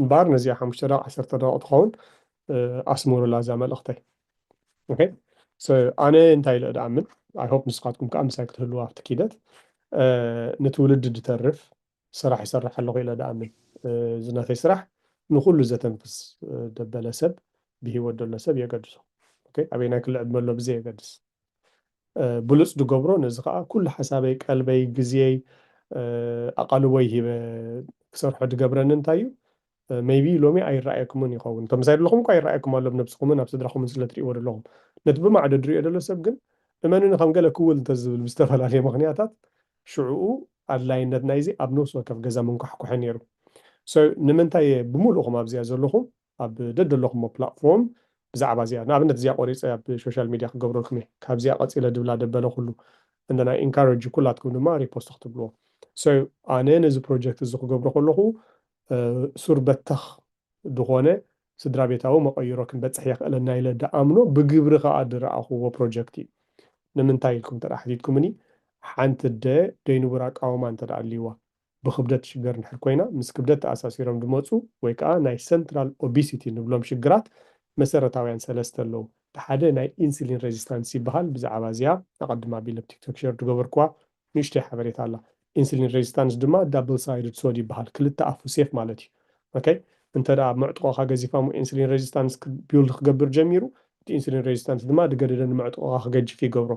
እምበኣር ነዚኣ ሓሙሽተ ደቒቕ ዓሰርተ ደቒቕ ትኸውን ኣስምሩላ እዛ መልእኽተይ ኦኬ ሶ ኣነ እንታይ ኢለ ድኣምን ኣይ ሆፕ ንስኻትኩም ከዓ ምሳይ ክትህልዉ ኣብቲ ኪደት ንትውልዲ ድተርፍ ስራሕ ይሰርሕ ኣለኹ ኢለ ድኣምን እዚ ናተይ ስራሕ ንኹሉ ዘተንፍስ ደበለ ሰብ ብሂወት ደሎ ሰብ የገድሶ ኦኬ ኣበየናይ ክሊ ዕድመ ኣሎ ብዘየገድስ ብሉጽ ድገብሮ ነዚ ከኣ ኩሉ ሓሳበይ ቀልበይ ግዝየይ ኣቓልቦይ ሂበ ክሰርሖ ድገብረኒ እንታይ እዩ ሜይቢ ሎሚ ኣይረኣየኩምን ይኸውን እቶም ምሳይ ደለኹም እኳ ይረኣየኩም ኣሎ ኣብ ነብስኹምን ኣብ ስድራኹምን ስለ ትርእይዎ ደለኹም ነቲ ብማዕዶ ድርእዮ ደሎ ሰብ ግን እመኑኒ ከም ገለ ክውል እንተ ዝብል ብዝተፈላለየ ምኽንያታት ሽዑኡ ኣድላይነት ናይዚ ኣብ ነብሲ ወከፍ ገዛ ምንኳሕኳሐ ነይሩ so ንምንታይ እየ ብምሉእኹም ኣብዚኣ ዘለኹም ኣብ ደደለኹሞ ፕላትፎርም ብዛዕባ እዚኣ ንኣብነት እዚኣ ቆሪጸ ኣብ ሾሻል ሚድያ ክገብረልኩም እየ ካብዚኣ ቀጺለ ድብላ ደበለ ኩሉ እንደ ናይ ኢንካረጅ ኩላትኩም ድማ ሪፖስት ክትብልዎ so ኣነ ነዚ ፕሮጀክት እዚ ክገብሮ ከለኹ ሱር በተኽ ድኾነ ስድራቤታዊ መቐይሮ ክንበጽሕ የኽእለና ኢለ ድኣምኖ ብግብሪ ከኣ ድረኣኹዎ ፕሮጀክት እዩ ንምንታይ ኢልኩም እንተ ሓቲትኩምኒ ሓንቲ ኣደ ደይንቡር ኣቃውማ እንተ ኣልይዋ ብክብደት ትሽገር እንድሕር ኮይና፣ ምስ ክብደት ተኣሳሲሮም ዝመጹ ወይ ከኣ ናይ ሰንትራል ኦቢሲቲ ንብሎም ሽግራት መሰረታውያን ሰለስተ ኣለዉ። እቲ ሓደ ናይ ኢንስሊን ረዚስታንስ ይበሃል። ብዛዕባ እዚኣ ኣቐድም ኣቢለ ኣብ ቲክቶክ ሸር ዝገበርኩዋ ንእሽቶይ ሓበሬታ ኣላ። ኢንስሊን ረዚስታንስ ድማ ዳብል ሳይድድ ሶድ ይበሃል፣ ክልተ ኣፉ ሴፍ ማለት እዩ። ok እንተ ደኣ መዕጥቖኻ ገዚፋሞ ኢንሱሊን ረዚስታንስ ቢውልድ ክገብር ጀሚሩ እቲ ኢንሱሊን ረዚስታንስ ድማ ድገደደ ንመዕጥቖኻ ክገጅፍ ይገብሮ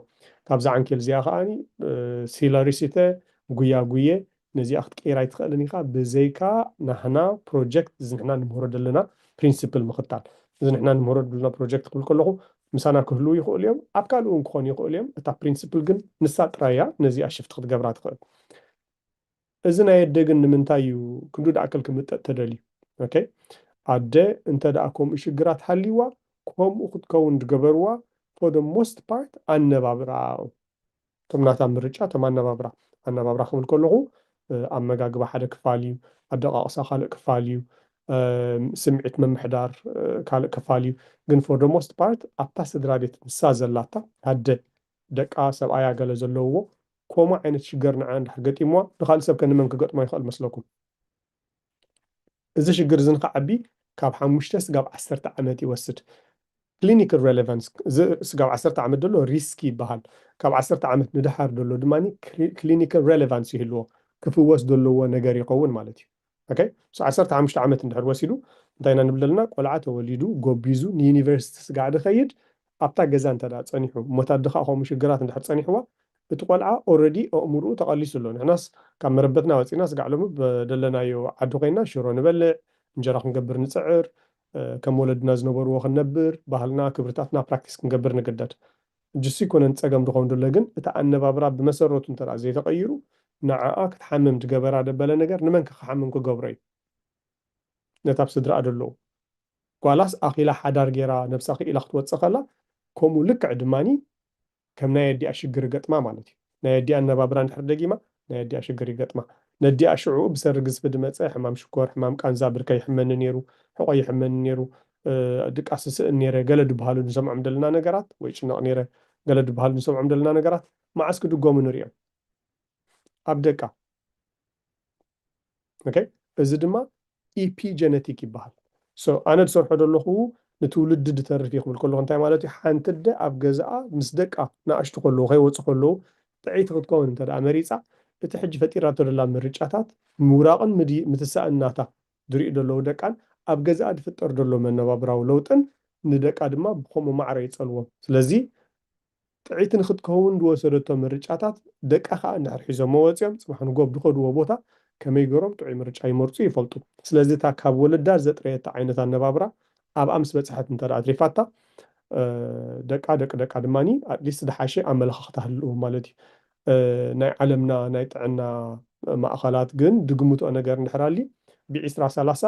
ካብዛ ዓንኬል እዚኣ ከኣ ሲለሪ ሲተ ጉያ ጉየ ነዚኣ ክትቅይራ ኣይትኸእልን ኢኻ ብዘይካ ናህና ፕሮጀክት እዚ ንሕና ንምህሮ ደለና ፕሪንስፕል ምኽታል እዚ ንሕና ንምህሮ ደለና ፕሮጀክት ክብል ከለኹ ምሳና ክህልው ይኸእሉ እዮም ኣብ ካልእ እውን ክኾኑ ይኸእሉ እዮም እታ ፕሪንስፕል ግን ንሳ ጥራይ እያ ነዚኣ ሽፍት ክትገብራ ትኸእል እዚ ናይ ኣደ ግን ንምንታይ እዩ ክንዱ ድኣክል ክምጠጥ ተደልዩ ኦኬ ኣደ እንተ ድኣ ኮምኡ ሽግራት ሃልይዋ ኮምኡ ክትከውን ድገበርዋ for the most part ኣነባብርኣ ዩ እቶም ናታ ምርጫ እቶም ኣነባብራ ኣነባብራ ክብል ከለኩ ኣመጋግባ ሓደ ክፋል እዩ ኣደቃቅሳ ካልእ ክፋል እዩ ስምዒት ምምሕዳር ካልእ ክፋል እዩ ግን for the most part ኣብታ ስድራቤት ንሳ ዘላታ ኣደ ደቃ ሰብኣያ ገለ ዘለውዎ ኮሙ ዓይነት ሽገር ንዓ እንድሕር ገጢምዋ ንካልእ ሰብከ ንመን ክገጥሞ ይክእል መስለኩም እዚ ሽግር እዚ ንክዓቢ ካብ ሓሙሽተ ስጋብ ዓሰርተ ዓመት ይወስድ ክሊኒክል ረለቫንስ እዚ ስጋብ ዓሰርተ ዓመት ደሎ ሪስኪ ይበሃል ካብ ዓሰርተ ዓመት ንደሓር ደሎ ድማ ክሊኒክል ረለቫንስ ይህልዎ ክፍወስ ደለዎ ነገር ይከውን ማለት እዩ ok ምስ ዓሰርተ ሓሙሽተ ዓመት እንድሕር ወሲዱ እንታይ ኢና ንብል ዘለና ቆልዓ ተወሊዱ ጎቢዙ ንዩኒቨርሲቲ ስጋዕ ድኸይድ ኣብታ ገዛ እንተ ጸኒሑ እሞታት ድኻ ከምኡ ሽግራት እንድሕር ጸኒሕዋ እቲ ቆልዓ ኦረዲ ኣእምሩኡ ተቐሊሱ ኣሎ ንሕናስ ካብ መረበትና ወጺና ስጋዕ ሎሚ ኣብ ደለናዮ ዓዲ ኮይና ሽሮ ንበልዕ እንጀራ ክንገብር ንጽዕር ከም ወለድና ዝነበርዎ ክንነብር ባህልና ክብርታትና ፕራክቲስ ክንገብር ንግደድ እጅሱ ኣይኮነን ጸገም ድኾን ድሎ ግን እቲ ኣነባብራ ብመሰረቱ እንተ ዘይተቀይሩ ንዓኣ ክትሓምም ድገበራ ደበለ ነገር ንመን ከ ክሓምም ክገብሮ እዩ ነቲ ኣብ ስድርኣ ደለዉ ጓላስ ኣኺላ ሓዳር ጌራ ነብሳ ክኢላ ክትወጽእ ከላ ከምኡ ልክዕ ድማኒ ከም ናይ ኣዲኣ ሽግር እገጥማ ማለት እዩ። ናይ ኣዲኣ ኣነባብራ እንድሕር ደጊማ ናይ ኣዲኣ ሽግር ይገጥማ። ነዲኣ ሽዑኡ ብሰሪ ግዝፊ ድመጸ ሕማም ሽኮር፣ ሕማም ቃንዛ፣ ብርከይ ይሕመኒ ኔሩ፣ ሕቆይ ይሕመኒ ኔሩ፣ ድቃስ ይስእን ኔረ ገለ ድብሃሉ ንሰምዖም ደለና ነገራት ወይ ይጭነቅ ኔረ ገለ ድብሃሉ ንሰምዖም ደለና ነገራት መዓስ ክድገሙ ንሪኦም ኣብ ደቃ። ኦኬ እዚ ድማ ኢፒጀነቲክ ይበሃል ሶ ኣነ ዝሰርሖ ዘለኹ ንትውልዲ ድተርፍ እየ ክብል ከለኹ እንታይ ማለት እዩ ሓንቲ ኣደ ኣብ ገዛኣ ምስ ደቃ ንኣሽቱ ከለዉ ከይወፁ ከለዉ ጥዕይቲ ክትከውን እንተ መሪፃ እቲ ሕጂ ፈጢራቶ ዘላ ምርጫታት ምውራቕን ምትሳእን ናታ ዝሪኡ ዘለዉ ደቃን ኣብ ገዛኣ ዝፍጠር ዘሎ መነባብራዊ ለውጥን ንደቃ ድማ ብከምኡ ማዕረ ይፀልዎም ስለዚ ጥዕይቲ ንክትከውን ዝወሰደቶ ምርጫታት ደቃ ከኣ እንድሕር ሒዞሞ ወጺኦም ጽባሕ ንጎ ኣብ ዝኸድዎ ቦታ ከመይ ገሮም ጥዑይ ምርጫ ይመርጹ ይፈልጡ። ስለዚ እታ ካብ ወለዳ ዘጥረየታ ዓይነት ኣነባብራ ኣብኣ ምስ በጽሐት እንተ ኣትሪፋታ ደቃ ደቂ ደቃ ድማ ኣትሊስት ዝሓሸ ኣመለኻኽታ ህልዎም ማለት እዩ። ናይ ዓለምና ናይ ጥዕና ማእኸላት ግን ዝግምትኦ ነገር እንድሕር ኣልዩ ብዒስራ ሰላሳ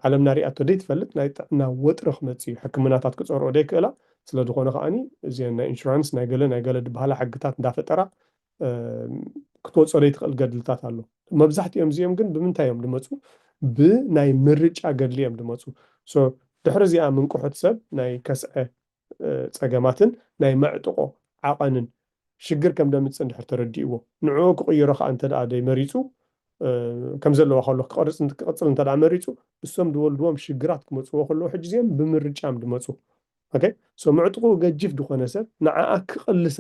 ዓለምና ሪኣቶ ደይትፈልጥ ናይ ጥዕና ወጥሪ ክመጽእ እዩ። ሕክምናታት ክጸርኦ ደይክእላ። ስለ ዝኾነ ከኣ እዚኤን ናይ ኢንሹራንስ ናይ ገለ ናይ ገለ ድበሃላ ሕግታት እንዳፈጠራ ክትወጾ ደይትኽእል ገድልታት ኣሎ። መብዛሕቲኦም እዚኦም ግን ብምንታይ እዮም ድመጹ ብናይ ምርጫ ገድሊ እዮም ድመጹ። So ድሕሪ እዚኣ ምንቅሑት ሰብ ናይ ከስዐ ጸገማትን ናይ መዕጥቖ ዓቐንን ሽግር ከም ደምጽእ እንድሕር ተረዲእዎ ንዕኡ ክቕይሮ ከኣ እንተደኣ ደይመሪጹ ከም ዘለዋ ከሎ ክቐርጽ ክቕጽል እንተደኣ መሪጹ እሶም ድወልድዎም ሽግራት ክመጽዎ ከለዉ ሕጂ እዚኦም ብምርጫም ድመጹ ኦኬ ሶ ምዕጥቑኡ ገጂፍ ድኾነ ሰብ ንዓኣ ክቕልሳ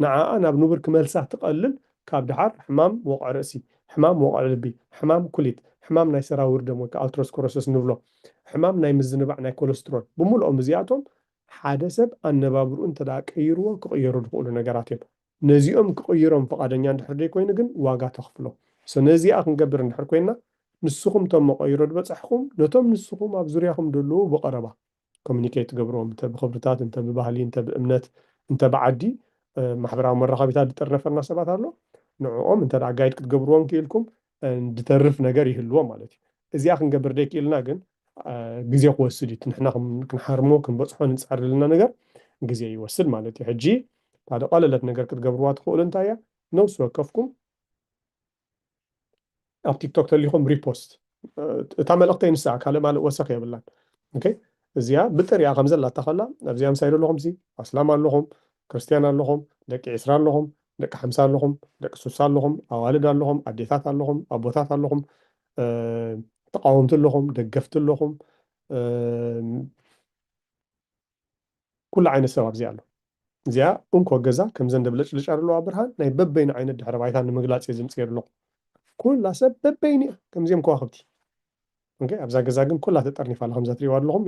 ንዓኣ ናብ ንቡር ክመልሳ ትቐልል ካብ ድሓር ሕማም ወቕዒ ርእሲ ሕማም ወቕዒ ልቢ ሕማም ኩሊት ሕማም ናይ ሰራውር ደም ወይ ከኣ ኣልትሮስኮሮሰስ ንብሎ ሕማም ናይ ምዝንባዕ ናይ ኮለስትሮል ብምልኦም እዚኣቶም ሓደ ሰብ ኣነባብርኡ እንተ ደኣ ቀይርዎ ክቕየሩ ዝኽእሉ ነገራት እዮም። ነዚኦም ክቕይሮም ፍቓደኛ እንድሕር ዘይኮይኑ ግን ዋጋ ተኽፍሎ። So ነዚኣ ክንገብር እንድሕር ኮይንና ንስኹም እቶም መቐይሮ ዝበጻሕኹም ነቶም ንስኹም ኣብ ዙርያኹም ዘለዉ ብቐረባ Communicate ትገብርዎም እንተ ብኽብርታት እንተ ብባህሊ እንተ ብእምነት እንተ ብዓዲ ማሕበራዊ መራኸቢታት ዝጥርነፈና ሰባት ኣሎ ንዕኦም እንተ ደኣ Guide ክትገብርዎም ክኢልኩም ድተርፍ ነገር ይህልዎ ማለት እዩ። እዚኣ ክንገብር ደይክኢልና ግን ግዜ ክወስድ እዩ። ንሕና ክንሓርሞ ክንበጽሖ ንጻሪ ዘለና ነገር ግዜ ይወስድ ማለት እዩ። ሕጂ ሓደ ቀለለት ነገር ክትገብርዋ ትኽእሉ እንታይ እያ ነብሲ ወከፍኩም ኣብ ቲክቶክ ተሊኹም ሪፖስት እታ መልእኽተይ ንሳ ካልእ ማልእ ወሰኽ የብላን። እዚኣ ብጥሪኣ ከምዘላታ ከላ ኣብዚኣ ምሳይ ዘለኹም ሲ ኣስላም ኣለኹም ክርስትያን ኣለኹም፣ ደቂ ዕስራ ኣለኹም፣ ደቂ ሓምሳ ኣለኹም፣ ደቂ ሱሳ ኣለኹም፣ ኣዋልድ ኣለኹም፣ ኣዴታት ኣለኹም፣ ኣቦታት ኣለኹም፣ ተቓወምቲ ኣለኹም፣ ደገፍቲ ኣለኹም፣ ኩሉ ዓይነት ሰብ ኣብዚኣ ኣሎ። እዚኣ እንኮ ገዛ ከም ዘንደ ብለጭልጫ ዘለዋ ብርሃን ናይ በበይኑ ዓይነት ድሕረ ባይታ ንምግላጽ እየ ዝምጽእ ኣለኹ። ኩላ ሰብ በበይኑ እያ ከምዚኦም ከዋኽብቲ። ኦኬ ኣብዛ ገዛ ግን ኩላ ተጠርኒፋ ኣላ ከምዛ ትሪእዋ ኣለኹም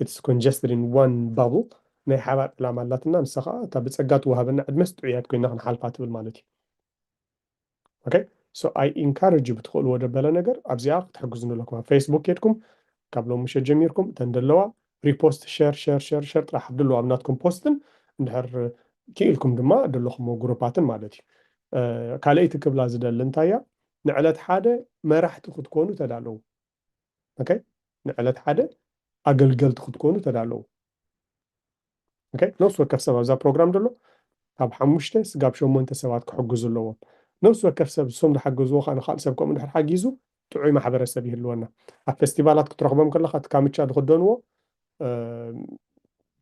ኢትስ ኮንጀስትድ ኢን ዋን ባብል ናይ ሓባር ዕላማ ኣላትና ንሳ ከዓ እታ ብፀጋ ትወሃበና ዕድመስ ጥዑያት ኮይና ክንሓልፋ ትብል ማለት እዩ ኦኬ ሶ ኣይ ኢንካረጅ ብትኽእልዎ ደበለ ነገር ኣብዚኣ ክትሕግዙ ኣለኩም ኣብ ፌስቡክ ኬድኩም ካብ ሎም ምሸት ጀሚርኩም እተን ደለዋ ሪፖስት ሸር ሸር ሸር ሸር ጥራሕ ኣብድሎ ኣብ ናትኩም ፖስትን እንድሕር ክኢልኩም ድማ ደለኹሞ ጉሩፓትን ማለት እዩ ካልኣይቲ ክብላ ዝደሊ እንታይ እያ ንዕለት ሓደ መራሕቲ ክትኮኑ ተዳለዉ ኦከ ንዕለት ሓደ ኣገልገልቲ ክትኮኑ ተዳለዉ ኦከ ነፍሲ ወከፍ ሰብ ኣብዛ ፕሮግራም ደሎ ካብ ሓሙሽተ ስጋብ ሸሞንተ ሰባት ክሕግዙ ኣለዎም ነፍሲ ወከፍ ሰብ ንሶም ዝሓገዝዎ ከኣ ንካልእ ሰብ ከምኡ ድሕር ሓጊዙ ጥዑይ ማሕበረሰብ ይህልወና ኣብ ፈስቲቫላት ክትረኽቦም ከለካ እቲ ካምቻ ዝኽደንዎ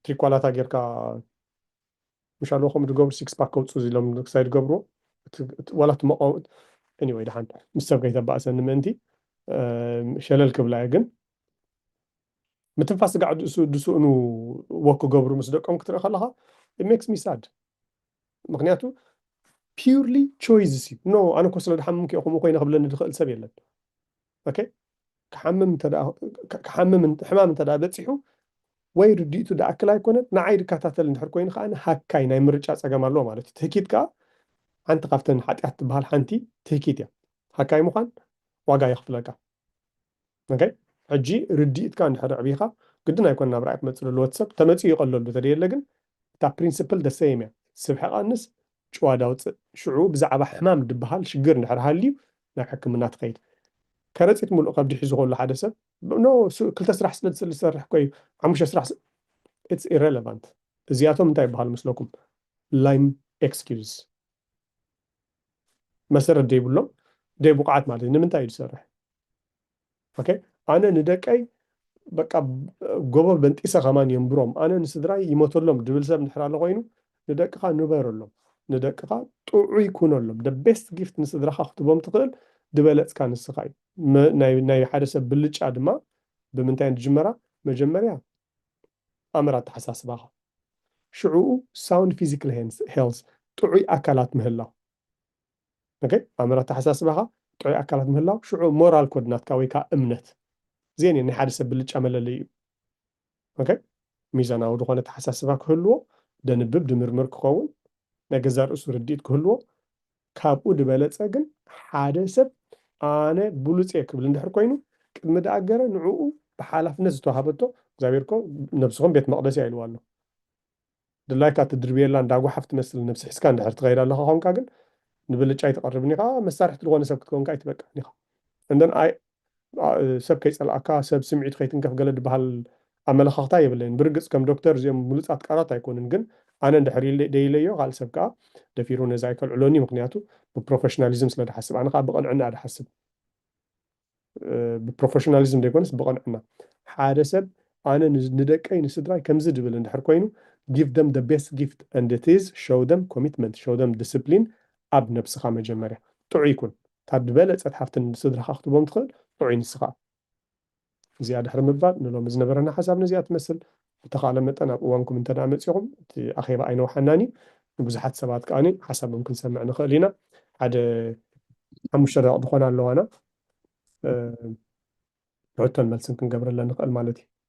ትሪኳላታ ጌርካ ምሻሎ ከምኡ ድገብሩ ሲክስ ፓክ ከውጽኡ ዝሎም ክሳይ ድገብርዎ ዋላ እቲ መቆ ኤኒወይ ድሓን ምስ ሰብ ከይተባእሰኒ ምእንቲ ሸለል ክብላ እየ ግን ምትንፋስ ስጋዕ ድስእኑ ወክ ክገብሩ ምስ ደቆም ክትርኢ ከለኻ ሜክስ ሚ ሳድ ምክንያቱ ፒርሊ ቾይዝስ እዩ ኖ ኣነ እኮ ስለ ድሓምምክ እየ ከምኡ ኮይነ ክብለኒ ድኽእል ሰብ የለን ኦኬ ክሓምም እንተ ክሓምም ሕማም እንተ በጺሑ ወይ ርድኢቱ ድኣክል ኣይኮነን ንዓይ ድከታተል እንድሕር ኮይኑ ከዓኒ ሃካይ ናይ ምርጫ ጸገም ኣለዎ ማለት እዩ ትህኪት ከኣ ሓንቲ ካብተን ሓጢኣት ትበሃል ሓንቲ ትህኪት እያ ሃካይ ምዃን ዋጋ የኽፍለካ ኦኬ ሕጂ ርድኢትካ እንድሕር ዕብኻ ግድን ኣይኮነ ናብ ራእይ ክመጽእ ዘለዎ እቲ ሰብ ተመጽኡ ይቐለሉ ተደየለ ግን እታ ፕሪንስፕል ደሰይም እያ ስብሒ ቀንስ ጭዋ ዳውፅእ ሽዑ ብዛዕባ ሕማም ድበሃል ሽግር እንድሕር ሃልዩ ናብ ሕክምና ትኸይድ። ከረጺት ምሉእ ከብዲ ሒዙ ከሎ ሓደ ሰብ ኖ ክልተ ስራሕ ስለ ዝሰርሕ እኮ እዩ ሓሙሽተ ስራሕ ስ- ኢትስ ኢረለቫንት እዚኣቶም እንታይ ይበሃሉ ምስለኩም ላይም ኤክስኪዩዝ መሰረት ዘይብሎም ደይ ብቑዓት ማለት እዩ ንምንታይ እዩ ዝሰርሕ ኦኬ ኣነ ንደቀይ በቃ ጎቦ በንጢሰ ከማን የንብሮም ኣነ ንስድራይ ይሞተሎም ድብል ሰብ እንድሕር ኣሎ ኮይኑ ንደቅኻ ንበረሎም ንደቅኻ ጥዑይ ኩነሎም ደ ቤስት ጊፍት ንስድራኻ ክትቦም ትኽእል ድበለፅካ ንስኻ እዩ ናይ ሓደ ሰብ ብልጫ ድማ ብምንታይ እየን ዝጅመራ መጀመርያ ኣምር ኣተሓሳስባኻ ሽዕኡ ሳውንድ ፊዚካል ሄልዝ ጥዑይ ኣካላት ምህላው ኦኬ ኣምር ኣተሓሳስባኻ ጥዑይ ኣካላት ምህላው ሽዑ ሞራል ኮድ ናትካ ወይ ከኣ እምነት እዚኤን እየን ናይ ሓደ ሰብ ብልጫ መለለይኡ ኦኬ ሚዛናዊ ዝኾነ ኣተሓሳስባ ክህልዎ ደንብብ ድምርምር ክኸውን ናይ ገዛእ ርእሱ ርድኢት ክህልዎ ካብኡ ድበለጸ ግን ሓደ ሰብ ኣነ ብሉጽ እየ ክብል እንድሕር ኮይኑ ቅድሚ ደኣገረ ንዕኡ ብሓላፍነት ዝተዋሃበቶ እግዚኣብሔር እኮ ነብስኹም ቤት መቕደስ እያ ኢልዋ ኣሎ ድላይካ ትድርብየላ እንዳ ጓሓፍ ትመስል ነብሲ ሒዝካ እንድሕር ትኸይድ ኣለኻ ኾንካ ግን ንብልጫ ኣይትቐርብን ኢኻ መሳርሕቲ ልኾነ ሰብ ክትከውን ከኣ ኣይትበቅዕን ኢኻ and then I ሰብ ከይጸልኣካ ሰብ ስምዒቱ ከይትንከፍ ገለ ድበሃል ኣመለኻኽታ የብለይን ብርግጽ ከም ዶክተር እዚኦም ምሉጻት ቃላት ኣይኮኑን ግን ኣነ እንድሕር ኢለ ደይለዮ ካልእ ሰብ ከኣ ደፊሩ ነዚ ኣይከልዕሎን እዩ ምኽንያቱ ብፕሮፈሽናሊዝም ስለ ድሓስብ ኣነ ከኣ ብቕንዕና እየ ድሓስብ ብፕሮፈሽናሊዝም ዘይኮነስ ብቕንዕና ሓደ ሰብ ኣነ ንደቀይ ንስድራይ ከምዚ ድብል እንድሕር ኮይኑ give them the best gift and it is show them commitment show them discipline ኣብ ነብስኻ መጀመርያ ጥዑይ ኩን እታ ድበለጸት ሓፍቲ ንስድራኻ ክትቦም ትኽእል ጥዑይ ንስኻ እዚኣ ድሕሪ ምባል ንሎሚ ዝነበረና ሓሳብ ነዚኣ ትመስል ብተኻእለ መጠን ኣብ እዋንኩም እንተድኣ መጺኹም፣ እቲ ኣኼባ ኣይነውሓናን እዩ፣ ንብዙሓት ሰባት ከኣ ሓሳቦም ክንሰምዕ ንኽእል ኢና፣ ሓደ ሓሙሽተ ደቒቕ ዝኾና ኣለዋና፣ ሕቶን መልስን ክንገብረለን ንኽእል ማለት እዩ።